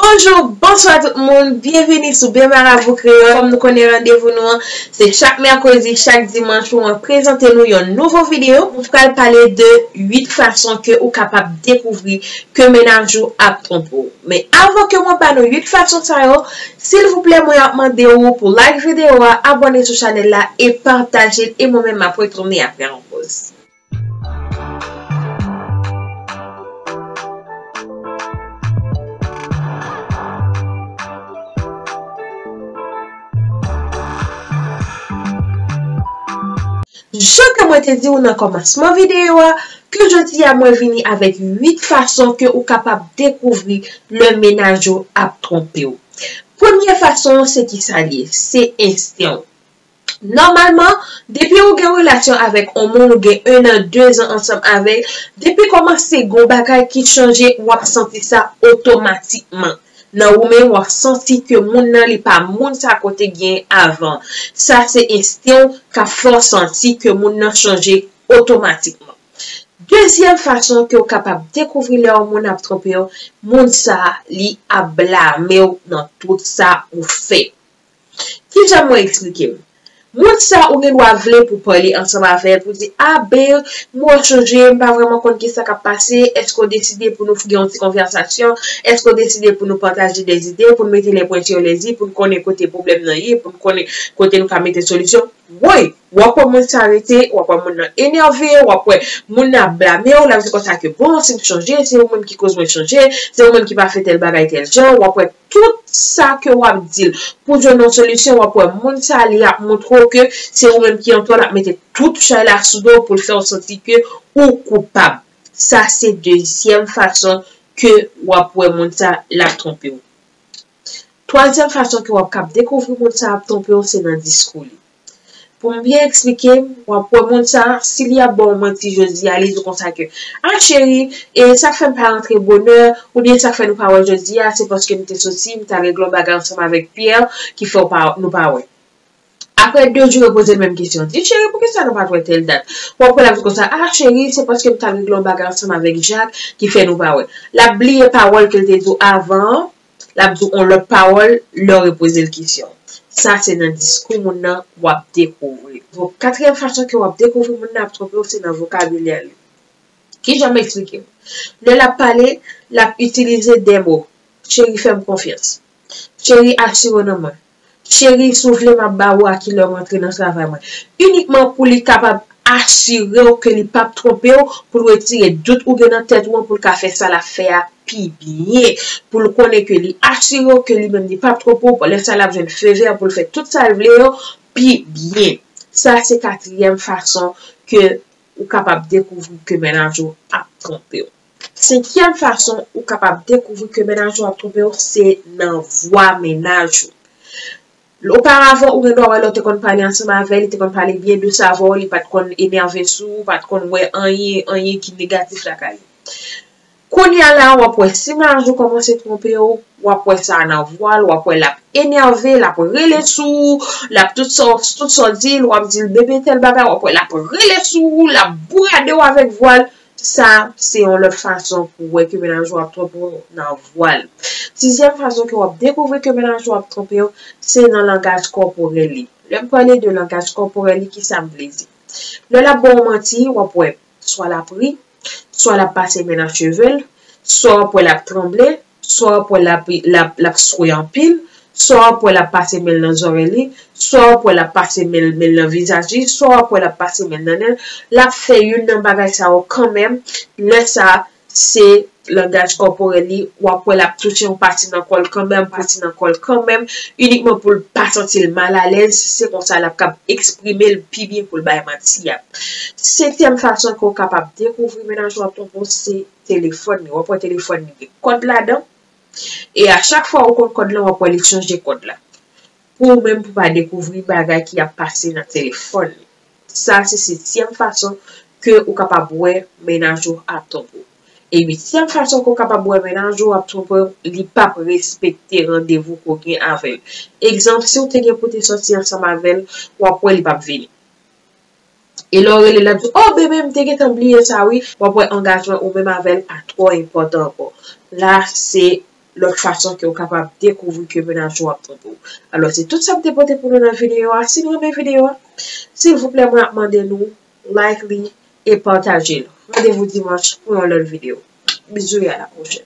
Bonjou, bonswa tout moun, byenvini sou Be Marabou Kreyòl. Kòm nou konnen randevou nou an, se chak mèkredi, chak dimanch pou mwen prezante nou yon nouvo videyo. Mwen pral pale de 8 fason ke ou kapab dekouvri ke menaj ou ap twonpe ou. Men avan ke mwen ba nou 8 fason sa yo, silvouplè mwen ap mande ou pou like videyo a, abòne sou chanèl la e pataje l e mwen menm m ap retounen aprè yon poz. Jan ke mwen te di ou nan komansman video a, ke jodi a mwen vini avek 8 fason ke ou kapab dekouvri lè menaj ou ap tronpe ou. Premye fason an se ki sa li ye? Se ensten ou. Nòmalman, depi ou gen relasyon avèk on moun ou gen 1 an, 2 zan ansanm avè l, depi kòmanse gon bagay ki chanje w ap santi sa otomatikman. Nan ou menm w ap santi ke moun nan li pa moun sa ke w te gen avan. Sa se ensten w k ap fè w santi ke moun nan chanje otomatikman. Dezyèm fason ke w kapab dekouvri lè on moun ap twonpe w, moun sa li ap blame w nan tout sa ou fè. Ki jan mwen eksplike m? Moun sa ou gen dwa vle pou pale ansanm avè l pou di, a Babe, m wè w chanje, m pa vrèman konn kisa k ap pase, èske w deside pou nou gen yon ti konvèsasyon, èske w deside pou nou pataje de zide, pou n mete le pwen sur le i, pou n konnen kote pwoblèm nan ye, pou n konnen kote nou ka mete solisyon? Woy! W ap wè moun sa rete, w ap wè moun nan enève, w ap wè moun nan ap blame w, l ap di konsa ke bon, si m chanje, se ou menm ki koz mwen chanje, se ou menm ki pa fè tèl bagay tèl jan, w ap wè. tout sa ke wap dil pou jwenn yon solisyon wap wè moun sa li ap montre w ke se ou menm ki antò lap mete tout chay la sou do w pou l fè w santi ke ou koupab sa se dezyèm fason ke wap wè moun sa lap twonpe w twazyèm fason ke wap kab dekouvri moun sa ap twonpe w se nan diskou li. Pou m byen eksplike, w ap wè moun sa a, si li ap ba w manti jodi a, li di w konsa ke, Ah cheri, e sa k fè m pa rantre bonè, oubyen sa k fè nou pa wè jodi a, se paske m te soti, m ta regle yon bagay ansanm avèk Pierre ki fè w pa, nou pa wè. Aprè de jou, repoze l menm kesyon. Di, Cheri, poukisa nou pa t wè tèl dat? W ap wè l ap di w konsa, Ah cheri, se paske m t al regle yon bagay ansanm avèk Jacques ki fè nou pa wè. L ap bliye pawòl ke l te di w avan an, l ap di w yon lòt pawòl lè w repoze l kesyon. Sa se nan diskou moun nan w ap dekouvri. Donk, katriyèm fason ke w ap dekouvri moun nan ap twonpe w se nan vokabilè li. Kijan m eksplike w? Lè l ap pale, l ap itilize de mo, Cheri fè m konfyans. Cheri asire w nan mwen. Cheri, si w vle m ap ba ou a ki lè m antre nan travay mwen. Inikman pou li kapab asire w ke li p ap twonpe w, pou l retire dout ou gen nan tèt ou an, pou l ka fè sa l ap fè a pi byen. Pou l konnen ke li asire w ke li menm li p ap twonpe w, lè sa l ap jwenn fe vè pou l fè tout sa l vle yo pi byen. Sa se katriyèm fason ke ou kapab dekouvri ke mennaj ou ap twonpe w. Senkyèm fason ou kapab dekouvri ke mennaj ou ap twonpe w se nan vwa mennaj ou. Oparavan ou gen dwa wè lè w te konn pale ansanm avè l, li te konn pale byen dous avè w, li pa t konn enève sou ou, ou pa t konn wè anyen, anyen ki negatif lakay li. Kounye a la, w ap wè si mennaj ou kòmanse twonpe w, w ap wè sa nan vwa l, w ap wè l ap enève, l ap rele sou ou, l ap tout sa w di l, w ap di l bebe tèl bagay, w ap wè l ap rele sou ou, l ap bourade w avèk vwa l. Sa se yon lòt fason pou wè ke mennaj ou ap twonpe w nan vwa l. Sizyèm fason ke w ap dekouvri ke mennaj ou ap twonpe w, se nan langaj kòporèl li. Lè m pale de langaj kòporèl li, kisa m vle di? Lè l ap ba w manti, w ap wè swa l ap ri, swa l ap pase men nan cheve l, swa w ap wè l ap tranble, swa w ap wè l ap swe anpil, swa w ap wè l ap pase men l nan zòrèy li, swa w ap wè l ap pase men l nan vizaj li, swa w ap wè l ap pase men l nan nen l, l ap fè youn nan bagay sa yo kanmenm, lè sa se langaj kòporèl li, w ap wè l ap touche yon pati nan kò l kanmenm, pati nan kò l kanmenm, inikman pou l pa santi l malalèz, se konsa l ap kab eksprime l pi byen pou l bay manti a. Senkyèm fason ke w kapab dekouvri menaj ou ap twonpe w se. telefòn li. Wap wè telefòn li gen kòd ladan. E a chak fwa ou konn kòd lan wap wè li chanje kòd la. Pou ou menm pou pa dekouvri bagay ki ap pase nan telefòn li. Sa se setyèm fason ke ou kapab wè mennaj ou ap twonpe ou. E uityèm fason ke ou kapab wè mennaj ou ap twonpe ou, li pap respekte randevou ke ou gen avèl. Egzanp, si ou te gen pou te sòti ansanm avèl, wap wè li pap vini. E lè w rele l ap di, O bebe m te gentan bliye sa wi, w ap wè angajman ou menm avè l pa twò enpòtan ankò. La se lòt fason ke w kapab dekouvri ke mennaj ou ap twonpe w. Alò se tout sa m te pote pou nou nan videyo a. Si n renmen videyo a, silvouplè mwen ap mande nou like li e pataje l. Randevou dimanch pou yon lòt videyo. Bizou e a la pwochèn.